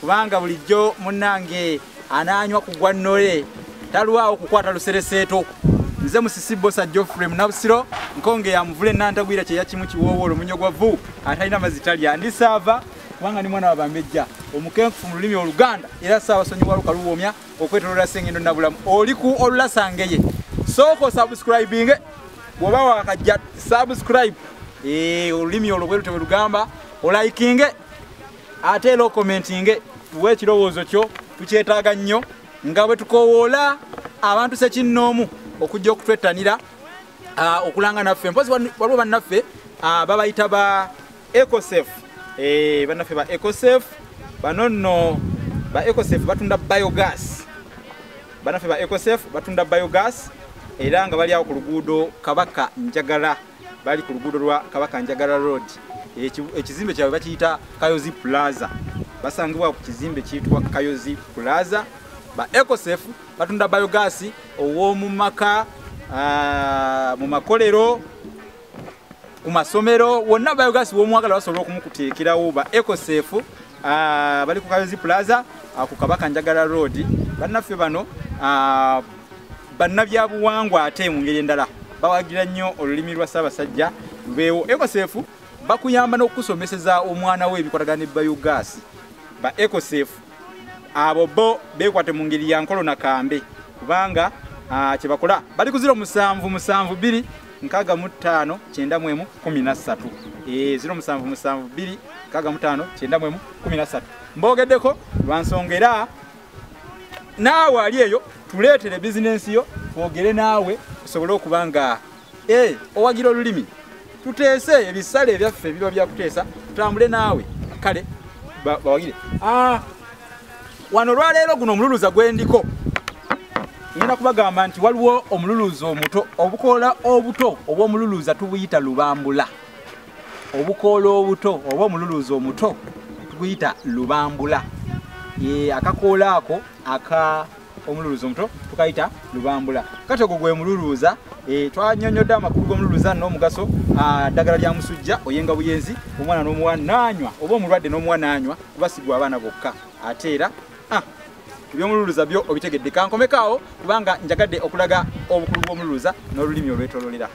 kubanga bulijjo munnange anaanywa ku gwa nnole talwawo kukwata lusereseeto nze musisi bosa geoffrey munabusiro nkonge yamuvula enantagwira kyeya kimu kiwoowo olumunyo gwa vu atalina mazzi talya ndi saava kubanga ni mwana wabambejja omukenkufu mu lulimi oluganda era saawa sonyiwa lukaluwoomya okwetolola sengendo nabulamu oli ku olulasangeye sooka osubscribinge bwoba wakajja subscribe eh, olulimi olwo bwerute bwe lugamba olaikinge ate era okomentinge tuwe ekirowoozo kyo tukyetaaga nnyo nga bwe tukowoola abantu sekinnoomu okujja okutwettanira ah, okulanga naffe mpozi waliwo bannaffe ah, babayita ba ecosef eh, bannaffe ba ecosef bano nno ba ecosef batunda biogas bannaffe ba ecosef batunda biogas era nga bali awo ku luguudo kabaka njagala bali ku luguudo lwa kabaka njagala road ekizimbe kyabwe bakiyita kayozi plaza basangibwa ku kizimbe kiyitibwa kayozi plaza ba ecosef batunda biogas ow'omu maka ah, mu makolero ku masomero wonna biogas w'omwagala basobola okumukuteekerawo ba ecosef Ah, bali ku Kayozi Plaza ah, ku Kabaka Njagala Road. Bannaffe bano ah, bannabyabuwangwa ate mu ngeri endala bawagira nnyo olulimi lwa Ssaabasajja beewo ekosefu bakuyamba n'okukusomeseza omwana we ebikwatagana ne biogas ba ekosefu abo bo beekwate mu ngeri ya nkolo na kambe kubanga kye bakola bali kuzira omusanvu musanvu bbiri nkaga mu ttaano kyenda mu emu kumi na ssatu eh, ziro musanvu musanvu bbiri nkaga mu ttaano kyenda mu emu kumi na ssatu mboogeddeko lwa nsonga era naawe ali eyo tuleetere bizinensi yo twogere naawe osobole okuba nga eh, owagira olulimi tuteese ebisale ebyaffe biba byakuteesa tutambule naawe kale bawagire ah, wano olwaleero guno omululuza gwe ndiko ngenda kubagamba nti waliwo omululuza omuto obukoola obuto obw'omululuza tubuyita lubambula obukoola obuto oba omululuza omuto tuguyita lubambula akakoola ako aka omululuza omuto tukayita lubambula kati ogwo gwe mululuza e, twanyonyodde amakulu g'omululuza n'omugaso ddagala lya musujja oyenga buyenzi omwana n'omuwa nanywa oba omulwadde n'omuwa nanywa kuba sigwa abaana bokka ate era ah, ebyomululuza byo obitegedde kankomekaawo kubanga njagadde okulaga obukulu bw'omululuza n'olulimi olwetololera